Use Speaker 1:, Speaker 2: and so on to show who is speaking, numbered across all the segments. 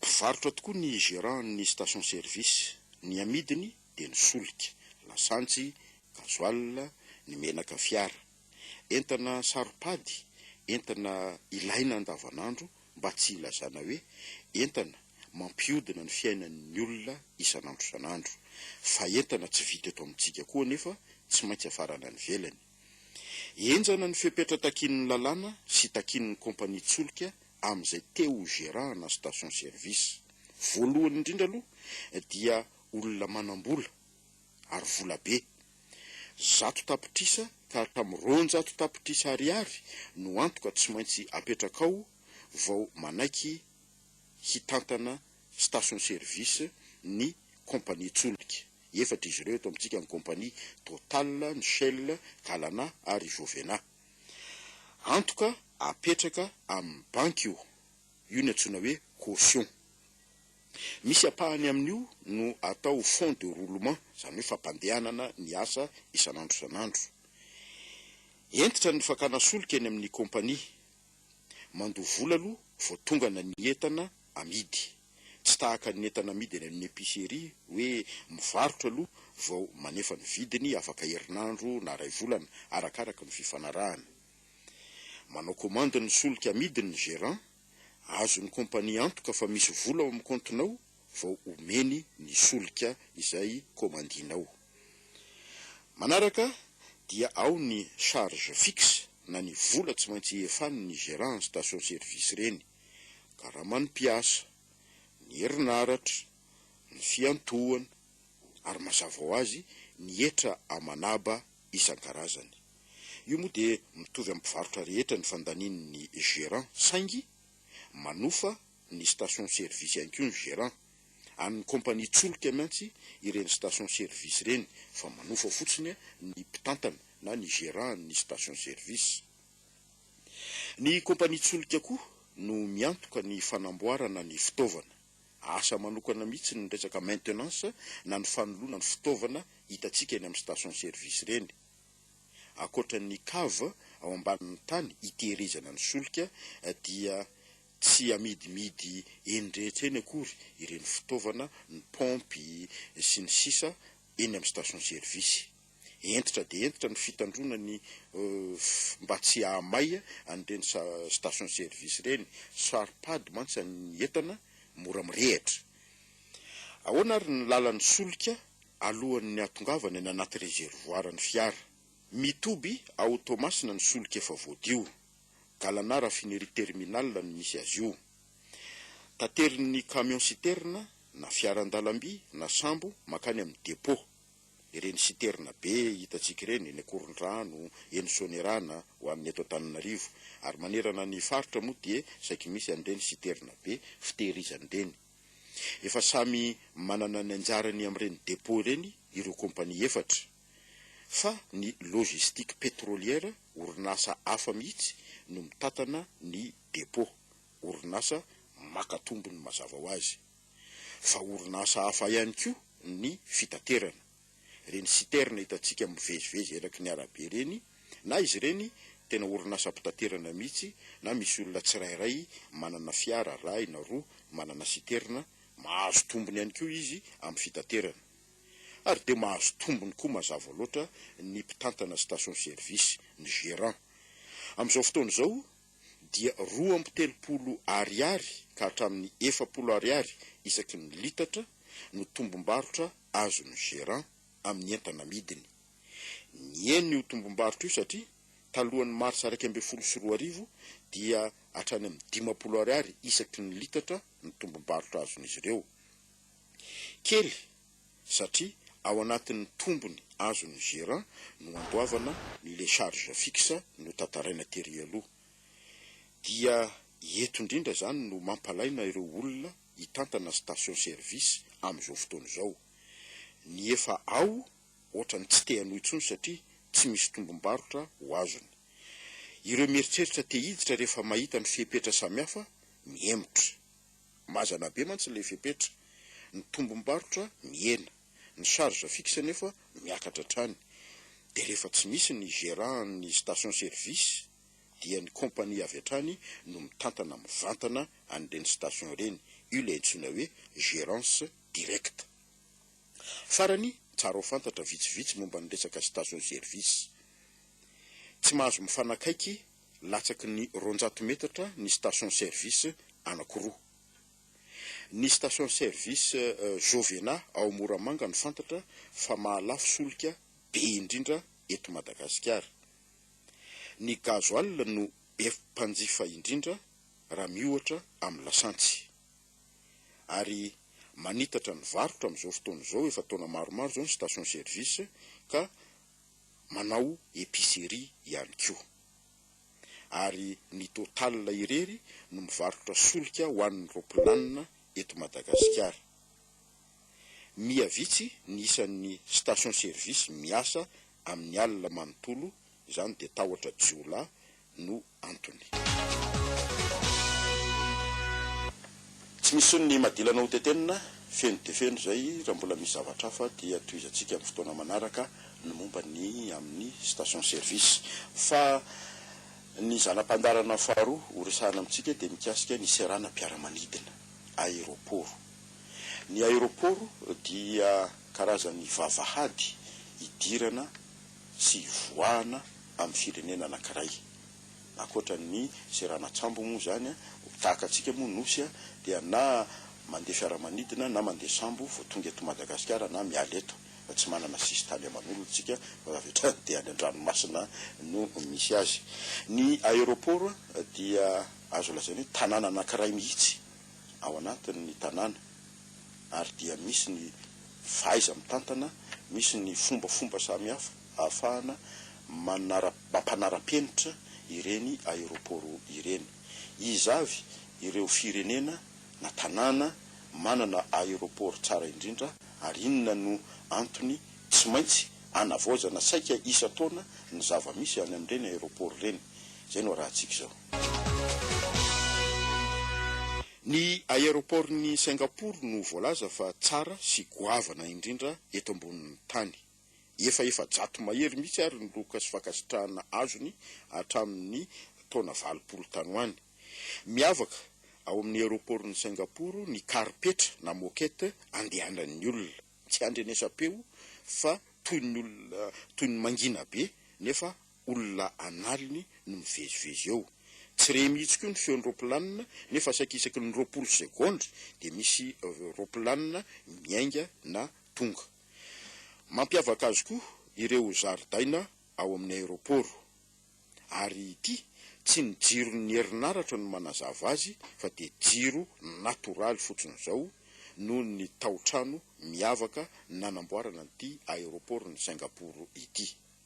Speaker 1: Mpivarotra tokoa ny gérant ny station service, ny amidiny dia ny solika, lasantsy, gasoil, ny menaka fiara. Entana saropady, entana ilaina andavanandro mba tsy hilazana hoe entana mampiodina ny fiainan'ny olona isan'andro isan'andro. Fa entana tsy vita eto amintsika koa anefa tsy maintsy afarana any ivelany. Henjana ny fepetra takian'ny lalàna sy takian'ny kompania tsolika amin'izay te ho gérant-na station service. Voalohany indrindra aloha dia olona manam-bola ary vola be. Zato tapitrisa ka hatramin'ny roanjato tapitrisa ariary no antoka tsy maintsy apetrakao vao manaiky hitantana station service ny compagnie tsolika. Efatra izy ireo eto amintsika, ny compagnie Total, ny Shell, Galana ary Jovena. Antoka apetraka amin'ny banky io. Io no antsoina hoe caution. Misy ampahany amin'io no atao fonds de roulement, izany hoe fampandehanana ny asa isan'andro isan'andro. Hentitra ny fakana solika eny amin'ny compagnie Mandoa vola aloha vao tongana ny entana amidy. Tsy tahaka ny entana amidy any amin'ny epicerie hoe mivarotra aloha vao manefa ny vidiny afaka herinandro na iray volana arakaraka ny fifanarahana. Manao commande ny solika amidiny ny gerant. Azon'ny compagnie antoka fa misy vola ao amin'ny kaontinao vao omeny ny solika izay komandinao. Manaraka dia ao ny charge fixe na ny vola tsy maintsy iefan ny gerant station service reny, karaman mpiasa, ny herinaratra, ny fiantohan ary mazava ho azy ny hetra amanaba isankarazany. Io moa dia mitovy am mpivarotra rehetra ny fandanin ny gerant saingy manofa ny station service ihany koa ny gérant, an'ny compagnie tsolika miantsy ireny station service ireny fa manofa fotsiny ny mpitantana na ny gérant an'ny station service. Ny compagnie tsolika koa no miantoka ny fanamboarana ny fitaovana, asa manokana mihitsy ny resaka maintenance na ny fanoloana ny fitaovana hitantsika eny amin'ny station service ireny. Ankoatra ny cave ao ambanin'ny tany hitehirizana ny solika dia. Tsy amidimidy eny rehetra eny akory ireny fitaovana, ny paompy, sy ny sisa eny amin'ny station service. Hentitra dia hentitra ny fitandroana ny mba tsy hahamay an'ireny station service ireny. Saro-pady mantsy an'ny entana mora mirehitra. Ahoana ary ny lalan'ny solika alohan'ny hahatongavany any anaty rezerovoaran'ny fiara? Mitoby ao Toamasina ny solika efa voadio. Galana raffinerie terminal no misy azy io. Taterin'ny camion citerne na fiaran-dalamby na sambo mankany amin'ny depot. Ireny citerne be hitantsika ireny eny Ankorondrano, eny Soanierana ho an'ny eto Antananarivo. Ary manerana ny faritra moa dia saiky misy an'ireny citerne be fitehirizana ireny. Efa samy manana ny anjarany amin'ireny depot ireny ireo compagnie efatra. fa ny Logistique Pétrolière, orinasa hafa mihitsy no mitantana ny dépôt, orinasa maka tombony mazava ho azy. Fa orinasa hafa ihany koa ny fitaterana. Ireny citerne hitantsika mivezivezy eraky ny arabe ireny, na izy ireny tena orinasam-pitaterana mihitsy na misy olona tsirairay manana fiara rahy na roa manana citerne, mahazo tombony ihany koa izy amin'ny fitaterana. ary dia mahazo tombony koa mazava loatra ny mpitantana station service, ny gérant. Amin'izao fotoana izao dia roa amby telopolo Ariary ka hatramin'ny efapolo Ariary isaky ny litatra no tombom-barotra azon'ny gérant amin'ny entana amidiny. Nihena io tombom-barotra io satria talohan'ny marsa iraika ambin'ny folo sy roa arivo dia hatrany amin'ny dimampolo Ariary isaky ny litatra ny tombom-barotra azon'izy ireo. Kely satria ao anatin'ny tombony azon'ny gerant no handoavana ny les charges fixes notantaraina tery aloha. Dia eto indrindra izany no mampalaina ireo olona hitantana station service amin'izao fotoana izao. Ny efa ao ohatrany tsy te hanohy intsony satria tsy misy tombom-barotra ho azony. Ireo mieritreritra te hiditra rehefa mahita ny fepetra samihafa mihemotra. Mazana be mantsy ilay fepetra. Ny tombom-barotra mihena, ny charge fixe anefa miakatra hatrany. Dia rehefa tsy misy ny gérant ny station service dia ny compagnie avy hatrany no mitantana mivantana an'ireny station ireny. Io ilay antsoina hoe gérance directe. Farany, tsara ho fantatra vitsivitsy momba ny resaka station service. Tsy mahazo mifanakaiky latsaky ny roanjato metatra ny station service anankiroa. Ny station service Jovena ao Moramanga no fantatra fa mahalafo solika be indrindra eto Madagasikara. Ny gasoil no be mpanjifa indrindra raha miohatra amin'ny lasantsy. Ary manitatra ny varotra amin'izao fotoana izao efa taona maromaro izao ny station service ka manao epicerie ihany koa. Ary ny Total irery no mivarotra solika ho an'ny ropilanina eto Madagasikara. Miha vitsy ny isan'ny station service miasa amin'ny alina manontolo izany dia tahotra jiolahy no antony. Tsy misy inona imadilana ho tetenina, feno dia feno izay, raha mbola misy zavatra hafa dia tohizantsika amin'ny fotoana manaraka ny momba ny amin'ny station service. Fa ny zana-pandaharana faharoa ho resahana amintsika dia mikasika ny seranam-piaramanidina, aeroporo. Ny aeroporo dia karazany vavahady hidirana tsy hivoahana amin'ny firenena anankiray. Ankoatra ny seranan-tsambo moa izany, tahaka antsika moa Nosy dia na mandeha fiaramanidina na mandeha sambo vao tonga eto Madagasikara na miala eto fa tsy manana sisintany aman'olona isika fa avy hatrany dia any an-dranomasina no misy azy. Ny aéroport dia azo lazaina hoe tanàna anankiray mihitsy ao anatin'ny tanàna. ary dia misy ny fahaiza-mitantana, misy ny fombafomba samihafa ahafahana manara mampanara-penitra ireny aeroporo ireny. Iza avy ireo firenena na tanàna manana aeroporo tsara indrindra ary inona no antony tsy maintsy anavaozana saika isan-taona ny zava-misy any amin'ireny aeroporo ireny? Izay no arahantsika izao. Ny aeroportn'i Singapour no voalaza fa tsara sy goavana indrindra eto ambonin'ny tany. Efa efajato mahery mihitsy ary ny loka sy fankasitrahana azony hatramin'ny taona valopolo tany ho any. Miavaka ao amin'ny aeroportn'i Singapour ny karipetra na moquette andehanan'ny olona. Tsy handrenesam-peo fa toy ny olona toy ny mangina be nefa olona an'aliny no mivezivezy eo. Tsy re mihitsy koa ny feon'ny roapilanina nefa saika isaky ny roapolo segondra dia misy roapilanina miainga na tonga. Mampiavaka azy koa ireo zaridaina ao amin'ny aeroporo. Ary ity, tsy ny jiron'ny herinaratra no manazava azy fa dia jiro natoraly fotsiny izao noho ny taotrano miavaka nanamboarana an'ity aeroporon'i Singapour ity.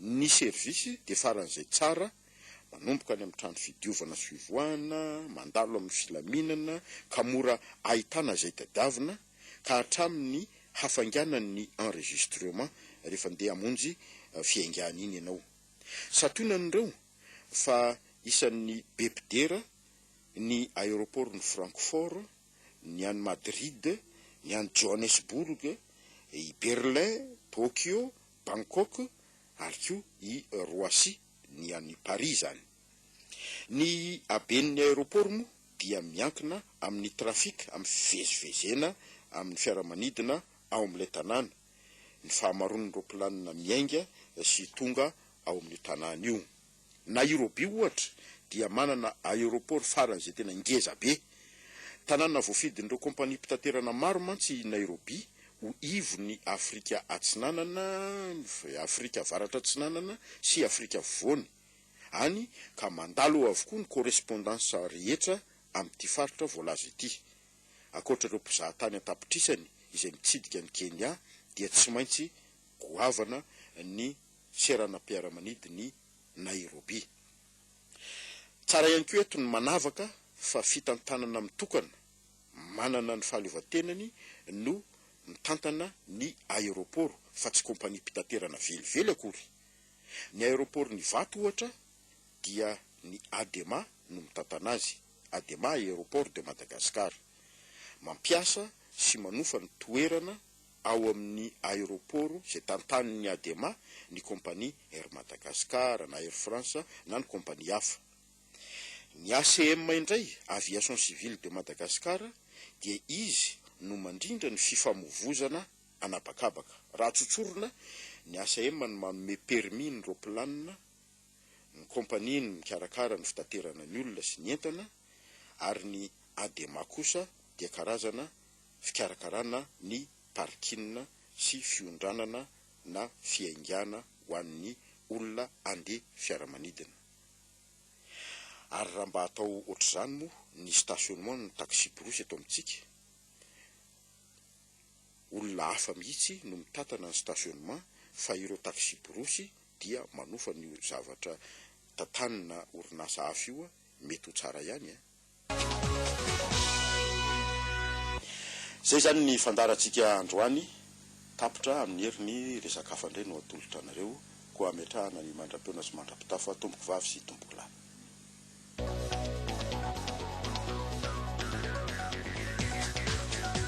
Speaker 1: Ny service dia faran'izay tsara, manomboka any amin'ny trano fidiovana sy fivoahana, mandalo amin'ny filaminana ka mora ahitana izay tadiavina, ka hatramin'ny hafainganan'ny enregistrement rehefa ndeha hamonjy fiaingàna iny ianao. Santionany ireo fa isan'ny be mpidera ny aeroportn'i Francfort, ny any Madrid, ny any Johannesburg, i Berlin, Tokyo, Bangkok ary koa i Roissy, ny an'i Paris izany. Ny haben'ny aéroport moa dia miankina amin'ny trafic, amin'ny fivezivezena amin'ny fiaramanidina ao amin'ilay tanàna, ny fahamaroan'ny roaplanina miainga sy tonga ao amin'io tanàna io. Nairobi ohatra dia manana aéroport faran'izay tena ngeza be. Tanàna voafidin'ireo kompaniam-pitaterana maro mantsy i Nairobi ho ivon'i Afrika Atsinanana, Afrika Avaratra Atsinanana sy Afrika Afovoany, any ka mandalo ao avokoa ny correspondants rehetra amin'ity faritra voalaza ity. Ankoatra ireo mpizahatany an-tapitrisany izay mitsidika an'i Kenya dia tsy maintsy goavana ny seranam-piaramanidin'i Nairobi. Tsara ihany koa eto ny manavaka fa fitantanana mitokana manana ny fahaleovantenany no mitantana ny aeroporo fa tsy kompaniam-pitaterana velively akory. Ny aeroporon'Ivato ohatra dia ny Adema no mitantana azy, Adema Aéroport de Madagascar. Mampiasa sy manofa ny toerana ao amin'ny aeroporo izay tantanin'ny Adema ny kompania Air Madagascar na Air France na ny kompania hafa. Ny ACM indray, Aviation Civile de Madagascar, dia izy no mandrindra ny fifamovozana an'habakabaka. Raha tsotsorina, ny ACM no manome permis ny ropilanina, ny kompania no mikarakara ny fitaterana ny olona sy ny entana ary ny Adema kosa dia karazana fikarakarana ny parking sy fiondranana na fiaingàna ho an'ny olona andeha fiaramanidina. Ary raha mba atao ohatr'izany moa ny stationnement ny taxi-brousse eto amintsika, olona hafa mihitsy no mitantana ny stationnement fa ireo taxi-brousse dia manofa an'io zavatra tantaninà orinasa hafa io, mety ho tsara ihany an! Izay izany ny fandaharantsika androany, tapitra amin'ny heriny resaka hafa indray no atolotra anareo, koa hametrahana ny mandra-peona sy mandra-pitafa tompoko vavy sy tompoko lahy.